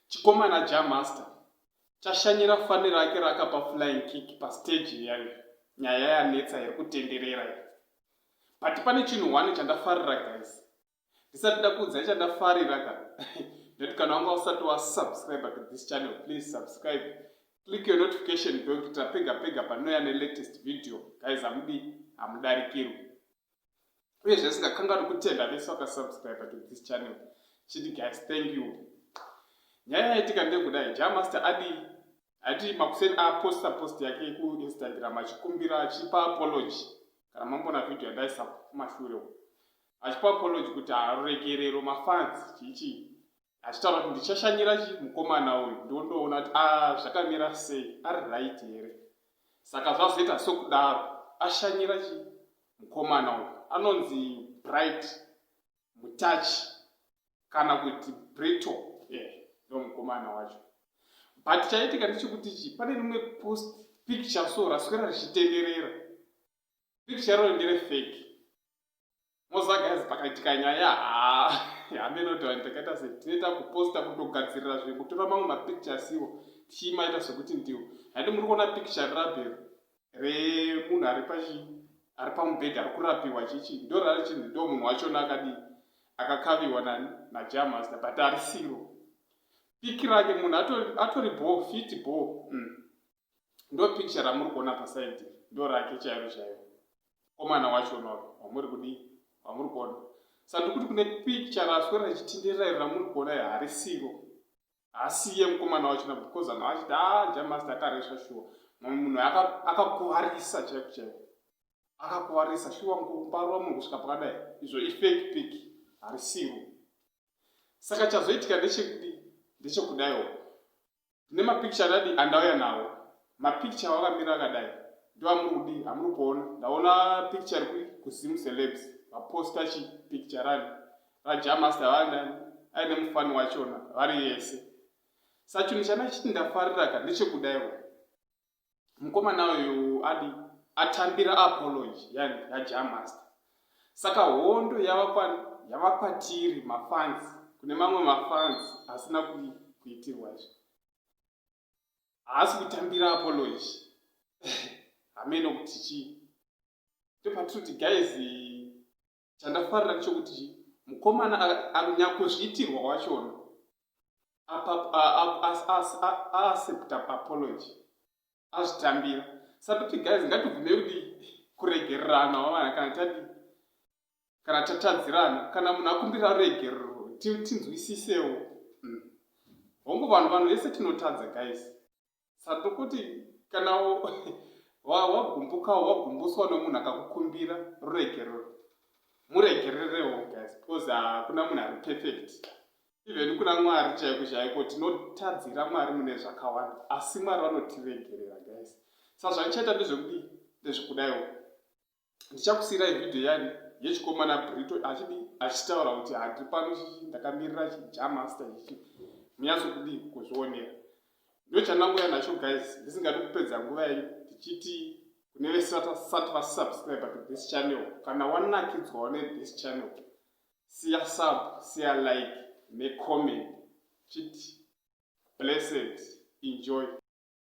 chikomana jamaster chashanyira fani rake rakapa flying kick pasteji yayo nyaya yanetsa iri kutenderera iyi but pane chinhu one chandafarira guys ndisati ndakuudzai chandafarira ka ndoti kana wanga usati wasubscribe to this channel please subscribe click your notification bell kuitira pega pega panouya nelatest video guys hamudi hamudarikirwi uye zvesingakanganwi kutenda vese vakasubscribe to this channel chiti guys thank you nyaya yaitika ndekudai jamaster adi ati makuseni aposta post yake kuinstagram achikumbira achipa apology kana mambona video yandaisa kumashure achipa apology kuti haruregerero mafans chiichii achitaura kuti ndichashanyira chi mukomana uyu ndondoona kuti a ah, zvakamira sei ari right here saka zvazoita sokudaro ashanyira chi mukomana uyu anonzi bright mutachi kana kuti brito eh, ndo yeah, mukomana wacho but chaitika ndechekuti chi pane rimwe post picture so raswera richitenderera picture roro ndere fake moziva guys pakaitika nyaya haa hameno kuti vanhu takaita se tinoita kuposta kutogadzirira zve kutora mamwe mapicture asiwo tichimaita sokuti ndiwo handi muri kuona picture rirabe remunhu ari pachi ari pamubhedhi ari kurapiwa chichi ndo rari chinhu ndo munhu wachona akadii akakaviwa nani najamasta but arisiro piki rake munhu atori bho fiti bho mm. ndo picture ramuri kuona paside ndo rake chairo chairo komana wacho no wamuri kudii wamuri kuona sa ndikuti kune picture raswe rachitindirira iri ramuri kuona iri harisiro hasiye mukomana wacho na because anhu achiti a ah, jamasta akaresva shuwa mumwe munhu akakuvarisa aka chaiko chaiko akakuvarisa shuwa mukuparwa munhu kusvika pakadai izvo ifake pic harisiro saka chazoitika ndechekudii ndechekudaiwo Tine mapicture adadi andauya nawo. Mapicture awakamira akadai ndiwo amuri kudii? Hamuri kuona. Ndaona picture iri kuZim Celebs vaposta chi picture rani raJah Master vana aine mufani wachona vari yese. Sachunhu chandachiti ndafarira ka ndechekudaiwo. mukomana uyu adi atambira apology yajamaster saka hondo yava kwatiri mafans kune mamwe mafans asina kuitirwa izvi haasi kutambira apology hameno kuti chii ndopatirikuti guys chandafarira ndechokuti chii mukomana anyakuzviitirwa wachona aaccepta apology azvitambira satoti guys ngatibvume kuti kuregererana wavana kana tadi kana tatadzirana kana munhu akumbira ruregerero tinzwisisewo hmm. hongu vanhu vanhu vese tinotadza guys sando kuti kana wagumbukawo wagumbuswa nomunhu akakukumbira ruregerero muregererewo guys because hakuna munhu ari perfect even kuna mwari chaiko chaiko tinotadzira mwari mune zvakawanda asi mwari vanotiregerera guys sazvandichaita ndezvekudii ndezvekudaiwo ndichakusiirai video yani yechikomana brito achidi achitaura kuti handiri pano chichi ndakamirira chijamaster ichi munyatsokudii kuzvionera ndochandangoya nacho guys ndisingadi kupedza nguva yenyu ndichiti kune vesati vasubscribe to this channel kana wanakidzwawo nethis channel siya sub siya like necomment chiti blessed enjoy